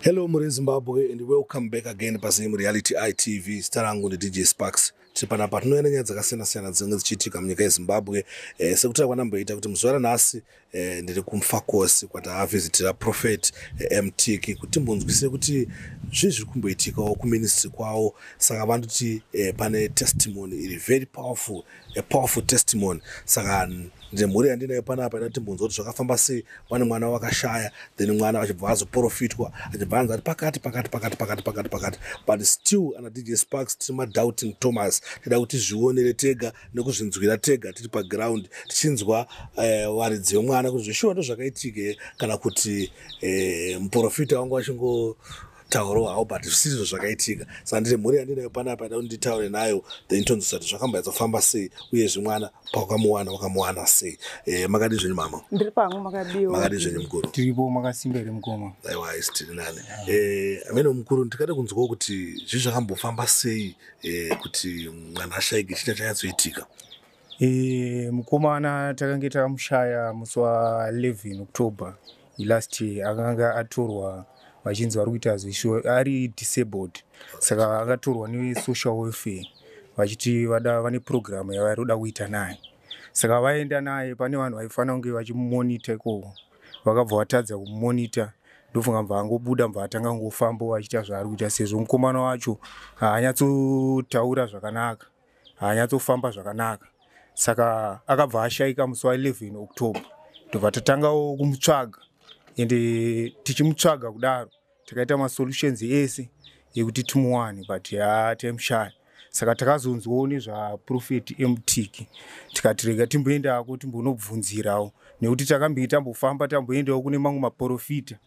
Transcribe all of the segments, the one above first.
Hello muri Zimbabwe and welcome back again paZim Reality ITV. Zita rangu ndi DJ Sparks. Tiri panapa tinoenda nyaya dzakasiyana siyana dzinenge dzichiitika munyika yeZimbabwe. Eh, sekutaura kwandamboita kuti muzuva ranhasi eh, ndiri kumfakosi kwataavhizitira Prophet eh, Mtiki kuti timbonzwisise kuti zvii zviri kumboitikawo kuministry kwawo. Saka vanoti eh, pane testimony iri very powerful a powerful testimony saka ndine mhuri yandinayo panapa ida timbunzwa kuti zvakafamba sei vane mwana wakashaya then mwana achibva vazoprofitwa achibva anzi ati pakati pakati pakati pakati pakati pakati but still ana dj sparks tiri madoubting thomas tida kuti zvionere tega nekuzvinzwira tega tiri paground tichinzwa eh, varidzi vemwana kuti zveshuwa ndo zvakaitike kana kuti eh, muprofita wangu achingo tauro hao but zvisizvo zvakaitika saka ndine mhuri yandinayo panapa ida kunditaure nayo then tonzwisa kuti zvakambaizofamba sei uye zvimwana paukamuwana wakamuwana sei e, makadi zvenyu mama ndiri pangu makadiwa makadi zvenyu mukuru tiripo makasimba here mukoma aiwa isi tiri nani e, eh, amene mukuru ndikada kunzwawo kuti zvii zvakambofamba sei e, kuti mwana ashaike chita chanyatsoitika E, mukomana takange takamushaya musi wa 11 october last year akanga atorwa vachinzi vari kuita zvisho ari disabled saka akatorwa nesocial welfare vachiti vada vane purogiramu yavari kuda kuita naye saka vaenda naye pane vanhu vaifanira kunge vachimumonita ikoko vakabva vatadza kumumonita ndofunga mva angobuda mva atanga kungofambo achiita zvaari kuita sezvo mukomana wacho haanyatsotaura zvakanaka haanyatsofamba zvakanaka saka akabva ashaika musi wa 11 october tobva tatangawo kumutsvaga ende tichimutsvaga kudaro takaita masolutions ese yekuti timuwane but ha taimushaya saka takazonzwawo nezvaprofeti emutiki tikati rega timboendako timbonobvunzirawo nekuti takambei tambofamba tamboendawo kune mamwe maprofita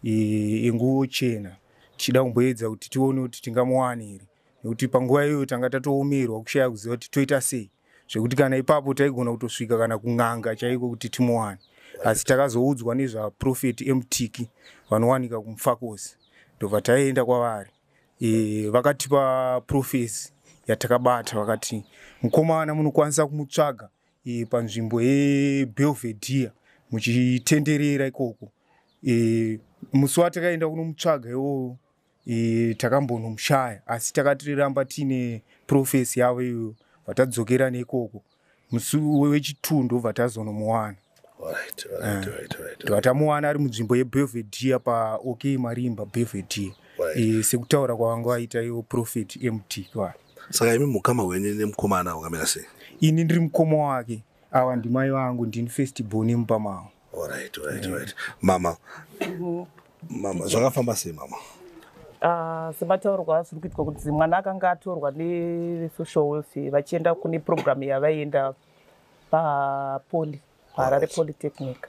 e, enguvo chena tichida kumboedza kuti tione kuti tingamuwane here nekuti panguva iyoyo tanga tatoomerwa kushaya kuziva kuti toita sei zvekuti kana ipapo taigona kutosvika kana kun'anga chaiko kuti timuwane asi takazoudzwa nezvaprofeti emutiki vanowanika kumufakosi ndobva taienda kwavari e, vakatipa profesi yatakabata vakati mukomana munokwanisa kumutsvaga e, panzvimbo yebelvedere muchitenderera ikoko e, musi watakaenda kunomutsvaga iwowo e, takambonomushaya asi takatiramba tiine profesi yavo iyoyo vatadzokera neikoko musi wechituu ndobva tazonomuwana vatamuwana ari munzvimbo yebelvedia paok marimba belvedia e, sekutaura kwavanga vaita iwo profet mt kwaa saka imi mukama wenyu nemukomana wakamira sei ini ndiri mukoma wake awa ndimai vangu ndini first born mupamavo Alright, alright, alright. Mama. Mhm. Mama, zvakafamba sei mama? Ah, semataurwa zviri kuitwa kuti mwana akanga atorwa nesocial welfare vachienda kune programu yavaienda papoli paharare polytechnic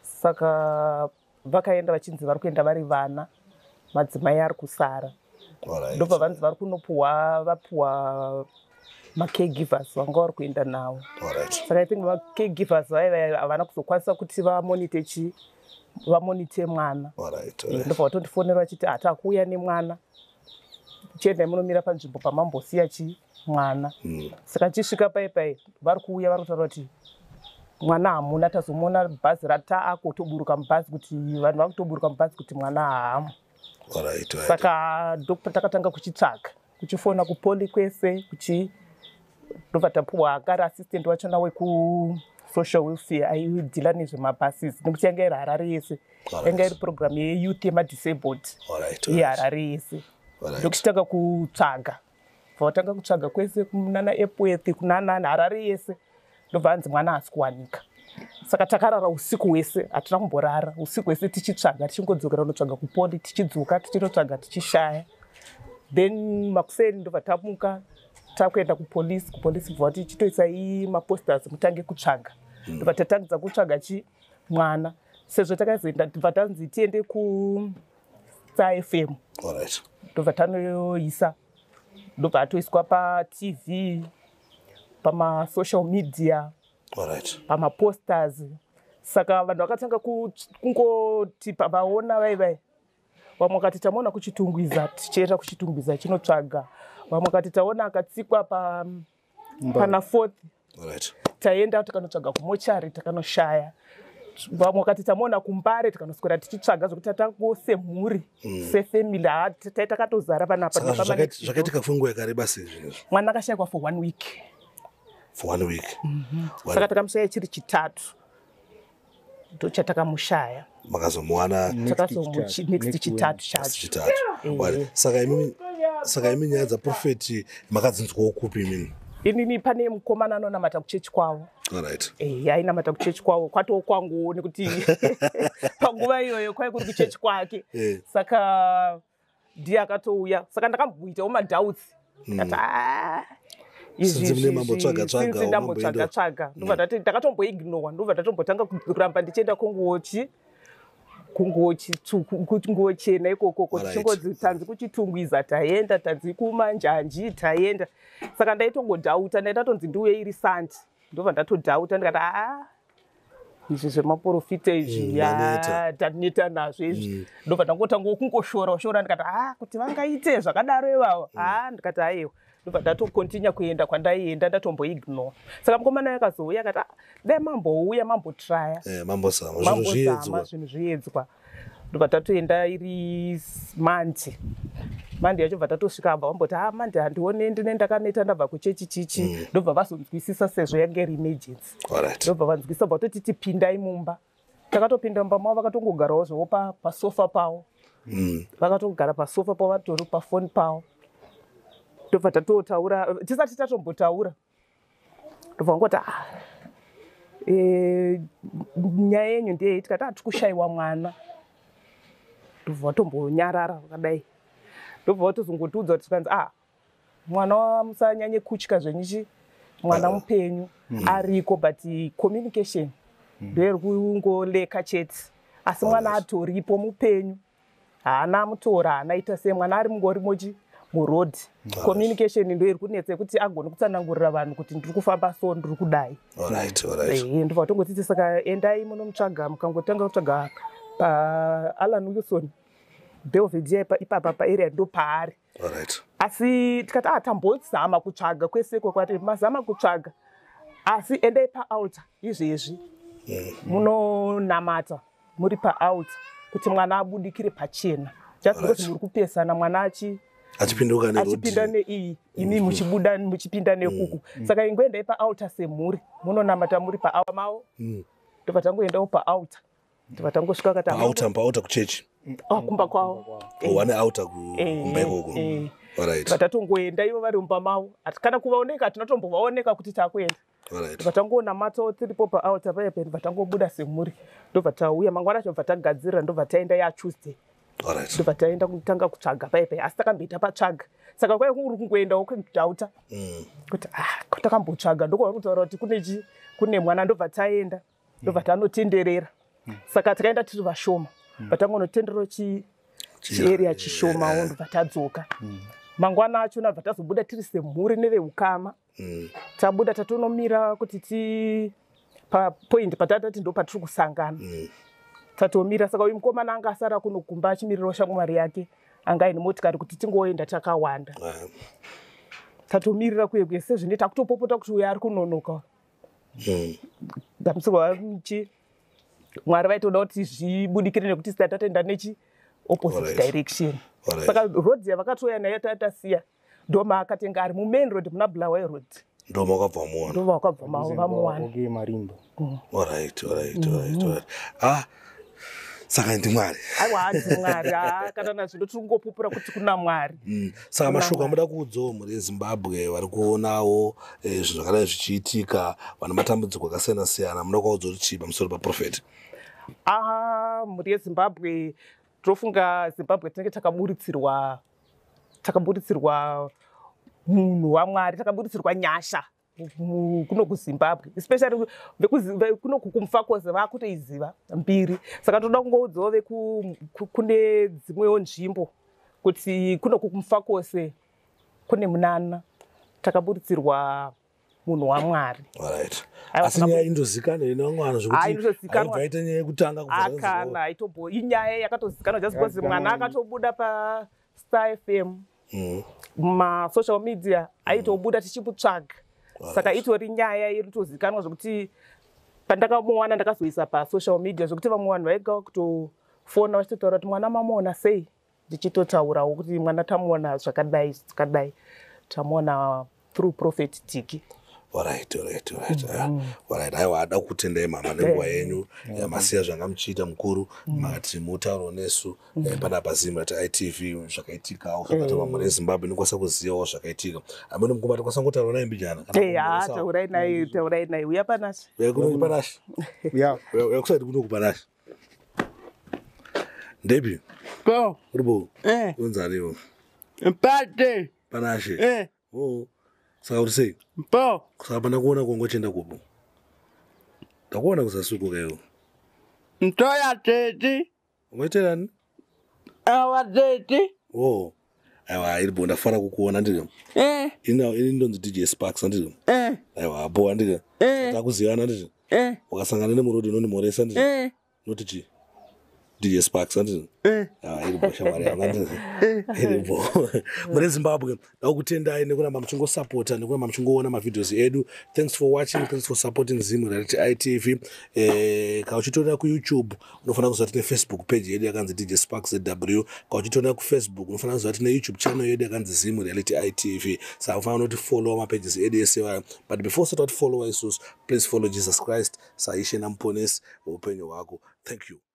saka vakaenda vachinzi vari kuenda vari vana madzimai ari kusara ndopavanzi vari kunopuhwa vapuhwa macaregivers vanga vari kuenda nawo saka i think macaregivers vaiva havana kuzokwanisa kuti vamonite chii vamonite mwana ndopa vatondifonera vachiti hati akuuya nemwana chiendai munomira panzvimbo pamambosiya chii mwana hmm. saka chisvika pai pai vari kuuya vari kutaura kuti mwana hamuna tazomuona bhazi rataako toburuka mubhazi kuti vanhu vakutoburuka mubhazi kuti mwana haamu saka doctor takatanga kuchitsvaga kuchifona kupoli kwese kuchi ndobva tapuwa akari assistant wachona wekusocial welfare aidhila nezvemabuses nekuti yanga iri harare yese yanga iri programu yeyouth yemadisabled yeharare yese ndokuchitanga kutsvaga bva vatanga kutsvaga kwese kunana epwethi kunanani harare yese ndobva hanzi mwana haasi kuwanika saka takarara usiku hwese hatina kumborara usiku hwese tichitsvaga tichingodzokera unotsvaga kupoli tichidzoka tichinotsvaga tichishaya then makuseni ndobva tamuka takuenda kupolisi kupolisi bva vati chitoisai maposters mutange kutsvaga hmm. ndobva tatangidza kutsvaga chi mwana sezvo takazoenda ndobva tanzi tiende ku safm ndobva tanoisa ndobva atoiswa patv pamasocial media pamaposters saka vanhu vakatanga kungoti pavaona vai vai vamwe vakati tamaona kuchitungwiza tichienda kuchitungwiza chinotsvaga vamwe vakati taona akatsikwa pa pana fourth right. taienda tikanotsvaga kumochari takanoshaya vamwe wakati tamaona kumbare tikanoswera tichitsvaga zvekuti tatango semhuri mm. sefamily tai takatozara panapazvakaitika kufa nguva yakareba sezvinezvo mwana akashayikwa for one week for one week mm -hmm. saka takamushaya chiri chitatu ndochatakamushaya makazomuwana next chitatu chacho eh. saka imimi saka imi nyaya dzaprofeti makadzinzwawo kupi imini inini pane mukomana anonamata kuchechi kwavo right. e, eh, ainamata kuchechi kwavo kwatoo kwanguwo nekuti panguva iyoyo kwai kuri kuchechi kwake e. saka ndiye akatouya saka ndakamboitawo madoubts hmm. kati ah, izvizvizvindambotsvaga tsvaga ndobva ndati ndakatomboignowa ndobva ndatombotanga kuramba ndichienda kunguochi kungochi kunguo chena ikokoko tichingozi tanzi kuchitungwiza taenda tanzi kumanjanji taenda saka ndaitongodhauta ndaidatonzi ndiuye iri sandi ndobva ndatodhauta ndikati aa izvi zvemaporofita izvi mm, ya taneta nazvo izvi mm. ndobva ndangotanga kungoshora ushora ndikati ha ah, kuti vangaite zvakadaro ivavo mm. ha ah, ndikati aiwa ndobva ndatokontinya kuenda kwandaienda ndatomboignore saka mukomana yakazouya akati ah, dai mambouya mambotraya eh, mambozama zvinhu zviedzwa ndobva tatoenda iri mandi mandi yacho bva tatosvika abva vamboti ha mandi handione ndine ndakaneta ndabva kuchechi chichi ndobva vazonzwisisa sezvo yange iri emergency ndobva vanzwisa bva totiti pindai mumba takatopinda mumba mavo vakatongogarawo zvavo pasofa pavo mm. vakatogara pasofa pavo vatori pafoni pavo ndobva tatotaura tisati tatombotaura ndobva ngoti ah, e, nyaya yenyu ndeyei tikati ati ah, kushaiwa mwana ndobva vatombonyarara vakadai ndobva vatozongotiudza kuti tikanzi a ah, mwana wa musanyanye kutya zvenyu chi mwana mupenyu mm. ariko but communication mm. ndoiri kungoleka chete asi mwana atoripo mupenyu haana mutora haana ita sei mwana ari mungorimo chi muroad communication ndo iri kunetsa yekuti agone kutsanangurira vanhu kuti ndiri kufamba so ndiri kudai ndobva tongotsitsi saka endai munomutsvaga mukangotanga kutsvaga paalan wilson belvedia ipapa paarea ndo paari right. asi tikati ah tambozama kutsvaga kwese kwekwati mazama kutsvaga asi endai paalta izvezvi mm. munonamata muri paalta kuti mwana abudikire pachena just because right. muri kupesana mwana achi achipinda neiyi imi muchibuda muchipinda nekuku mm. saka ingoendai paalta semhuri munonamata muri paawa mavo mm. ndobva tangoendawo paalta ndibva tangosvika akati auta mbauta kuchechi oh, kumba kwavo oh, wane auta kumba eh, ikoko eh. ndibva tatongoenda ivo vari mumba mavo ati kana kuvaoneka tinotombovaoneka kuti takuenda ndibva tangoona matso tiripo paauta paye ndibva tangobuda semhuri ndobva tauya mangwana acho bva tagadzirira ndobva taenda yatuesday ndobva taenda kutanga kutsvaga paye paye asi takamboita patsvaga saka kwai kuri kungoenda wokudhauta mm. kuti ah, takambotsvaga ndokuva kutaura kuti kune mwana ndobva taenda ndobva mm. tanotenderera mm. saka tikaenda tiri vashoma mm. vatangonotenderero chieria chi chishoma wo ndobva tadzoka mm. mangwana acho nabva tazobuda tiri semhuri neveukama mm. tabuda tatonomira kuti ti papoint patatati ndo patiri kusangana mm. tatomira saka uyu mukomana anga asara kunogumba achimirirawo shamwari yake anga aine motikari kuti tingoenda takawanda tatomirira kuye kuye sezvine takutopopota kuti uyo ari kunonoka eh. dambudziko chi mwari vaitoda kuti zvibudikire nekuti sida tatenda nechi opposite direction saka road yavakatouya nayo tatasiya ndoma akatenga ari mumain road muna bulawayo road ndoma wakabva muona ndoma wakabva mawo vamuwana okay marimbo mm. alright alright alright mm-hmm. ah saka ndimwari aiwa hanzi mwari haa kana nazvino tiri kungopupura kuti kuna mwari mm. saka mashoko amuda kuudzawo mhuri yezimbabwe vari kuonawo eh, zvinhu zvakadai zvichiitika vana matambudziko akasiyana siyana muda kwaudza kuti chii pamusoro paprofeti aha mhuri yezimbabwe tinofunga zimbabwe tinenge takaburitsirwa takaburitsirwa munhu wamwari takaburitsirwa nyasha kuno kuzimbabwe especially kuno kumfakoze vakutoiziva mbiri saka toda kungoudzawo vekune dzimwewo nzvimbo kuti kuno kumfakose kune munana takaburitsirwa munhu wamwari asi nyaya indozikanwa ine vamwe vanhu zvekutiaita nyaya yekutanga akana aitobo inyaya yakatozikanwa just because mwana akatobuda pastar fm mm. masocial media aitobuda mm. tichimutsvaga saka itori nyaya iri tozikanwa zvekuti pandakamuwana ndakazoisa pasocial media zvekuti vamwe vanhu vaiga kutofona vachitotaura kuti mwana mamuona sei ndichitotaurawo kuti mwana tamuona zvakadai zvakadai tamuona through prophet tiki Alright, alright, alright. Ah, mm-hmm. Alright, aiwa hada kutendai mama nenguva eh, yenyu eh, eh, masiya zvanga muchiita mukuru mm. makati mutauro nesu mm. pana pazimu ati itv zvakaitikawo zvakati vamwe rezimbabwe inokwanisa kuzivawo zvakaitika amene mukoma tikwanisa ngotaura naye mbijana ah, taurai naye mm. taurai naye uya panashe uya kunokupanashe uya kusaiti kunokupanashe Debbie. Go. Rubo. Eh. Unzani wo. Mpate. Panashe. Eh. Oh. Saka uri sei? Mpo. Saka pana kuona kongo chenda kupo. Ndakuona kusasukuka iwo. Mtoya tete. Umeterani? awa tete oh aiwa iri bo ndafara kukuona ndiri eh. ini ndonzi dj sparks andiri eh. aiwa bo andiri eh. takuzivana ndiri wakasangana nemurodi unondimhoresa ndiri noti chii dj sparks andiri ah, iri bo shamwari yanga ndiri iri bo mune zimbabwe ndakutendai nekuramba muchingosapota nekuramba muchingoona mavideos edu thanks for watching thanks for supporting zim reality itv eh, ka uchitorera kuyoutube unofanira kuziva tine facebook page yedu yakanzi dj spark zw ka uchitorera kufacebook unofanira kuziva tine youtube channel yedu yakanzi zim reality itv saka unofanira unoti followa mapages edu ese wayo but before usati wati followa isusu please follow jesus christ saishe namuponesi weupenyu hwako thank you